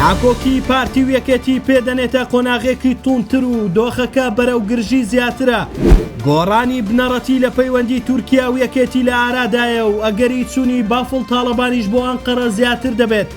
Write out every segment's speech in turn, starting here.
ناکۆکی پارتی و یەکێتی پێدەنێتە قۆناغێکی توونتر و دۆخەکە بەرەو گرژی زیاترە گۆڕانی بنەڕەتی لە پەیوەندی تورکیا و یەکێتی لە ئارادایە و ئەگەری چوونی بافڵ تاڵەبانیش بۆ ئەنقەرە زیاتر دەبێت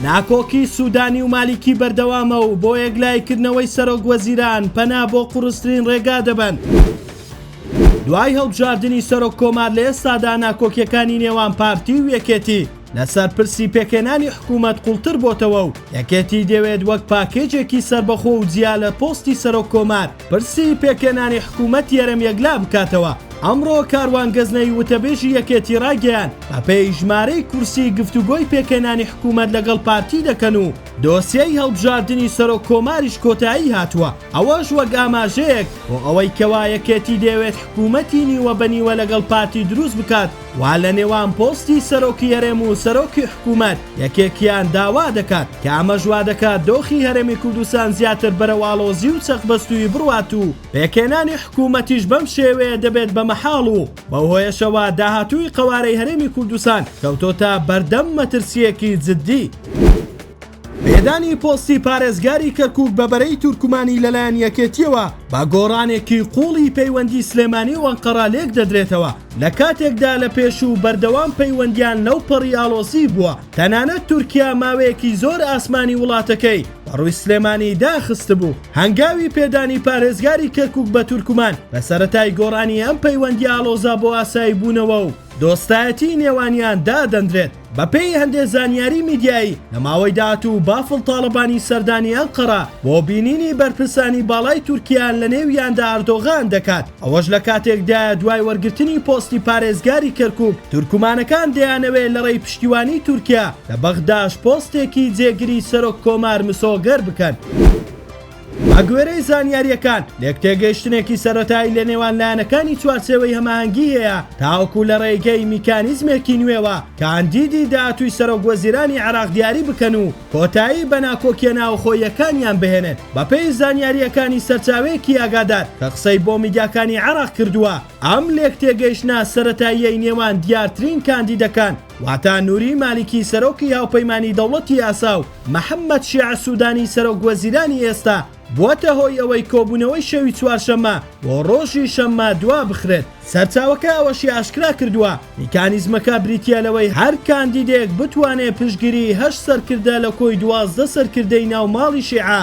ناکۆکی سوودانی و مالیکی بەردەوامە و بۆ یەکلایکردنەوەی سەرۆک وەزیران پەنا بۆ قوڕسترین ڕێگا دەبەن. دوای هەڵبژاردنی سەرۆک کۆمار لە ئێستادا ناکۆکیەکانی نێوان پارتی و یەکێتی لەسەر پرسی پێکهێنانی حکوومەت قوڵتر بۆتەوە و یەکێتی دەوێت وەک پاکێجێکی سەربەخۆ و جیا لە پۆستی سەرۆک کۆمار پرسی پێکهێنانی حکوومەتی هەرێم یەکلا بکاتەوە. ئەمڕۆ کاروان گەزنەوی وتەبێژی یەکێتی ڕایگەیاند، بەپێی ژمارەی کورسی گفتوگۆی پێکهێنانی حکوومەت لەگەڵ پارتی دەکەن و دۆسیەی هەڵبژاردنی سەرۆک کۆماریش کۆتایی هاتووە، ئەوەش وەک ئاماژەیەک بۆ ئەوەی کەوا یەکێتی دەیەوێت حکوومەتی نیوە بە نیوە لەگەڵ پارتی دروست بکات. وا لە نێوان پۆستی سەرۆکی هەرێم و سەرۆکی حکوومەت یەکێکیان داوا دەکات کە ئەمەش وا دەکات دۆخی هەرێمی کوردستان زیاتر بەرەو ئاڵۆزی و چەقبەستوویی بڕوات و پێکهێنانی حکوومەتیش بەم شێوەیە دەبێت بە مەحاڵ و بەو هۆیەشەوە داهاتووی قەوارەی هەرێمی کوردستان کەوتۆتە بەردەم مەترسییەکی جددی. پێدانی پۆستی پارێزگاری کەرکوک بە بەرەی تورکمانی لەلایەن یەکێتییەوە بە گۆڕانێکی قوڵی پەیوەندی سلێمانی و ئەنقەرە لێکدەدرێتەوە لە کاتێکدا لە پێشوو بەردەوام پەیوەندیان لەو پەڕی ئاڵۆزی بووە تەنانەت تورکیا ماوەیەکی زۆر ئاسمانی وڵاتەکەی بەڕووی سلێمانی داخستبوو هەنگاوی پێدانی پارێزگاری کەرکوک بە تورکمان لە سەرەتای گۆڕانی ئەم پەیوەندی ئاڵۆزە بۆ ئاسایی بوونەوە و دۆستایەتی نێوانیان دادەندرێت. بەپێی هەندێ زانیاری میدیایی لە ماوەی داهاتوو بافڵ تاڵەبانی سەردانی ئەنقەرە بۆ بینینی بەرپرسانی باڵای تورکیا لە نێویاندا ئەردۆغان دەکات ئەوەش لە کاتێکدایە دوای وەرگرتنی پۆستی پارێزگاری کەرکوک تورکمانەکان دەیانەوێ لە ڕێی پشتیوانی تورکیا لە بەغداش پۆستێکی جێگری سەرۆک کۆمار مسۆگەر بکەن. بەگوێرەی زانیارییەکان، لێکتێگەیشتنێکی سەرەتایی لە نێوان لایەنەکانی چوارچێوەی هەماهەنگی هەیە تاوەکو لە ڕێگەی میکانیزمێکی نوێوە کاندیدی داهاتووی سەرۆکوەزیرانی عێراق دیاری بکەن و کۆتایی بە ناکۆکییە ناوەخۆییەکانیان بهێنن. بەپێی زانیارییەکانی سەرچاوەیەکی ئاگادار کە قسەی بۆ میدیاکانی عێراق کردووە، ئەم لێکتێگەیشتنە سەرەتاییەی نێوان دیارترین کاندیدەکان، واتا نوری مالیکی سەرۆکی هاوپەیمانی دەوڵەتی یاسا و محەمەد شیع سودانی سەرۆک وەزیرانی ئێستا بووەتە هۆی ئەوەی کۆبوونەوەی شەوی چوارشەممە بۆ ڕۆژی شەممە دوابخرێت. سەرچاوەکە ئەوەشی ئاشکرا کردووە، میکانیزمەکە بریتییە لەوەی هەر کاندیدێک بتوانێت پشتگیریی هەشت سەرکردە لە کۆی دوازدە سەرکردەی ناو ماڵی شیعە،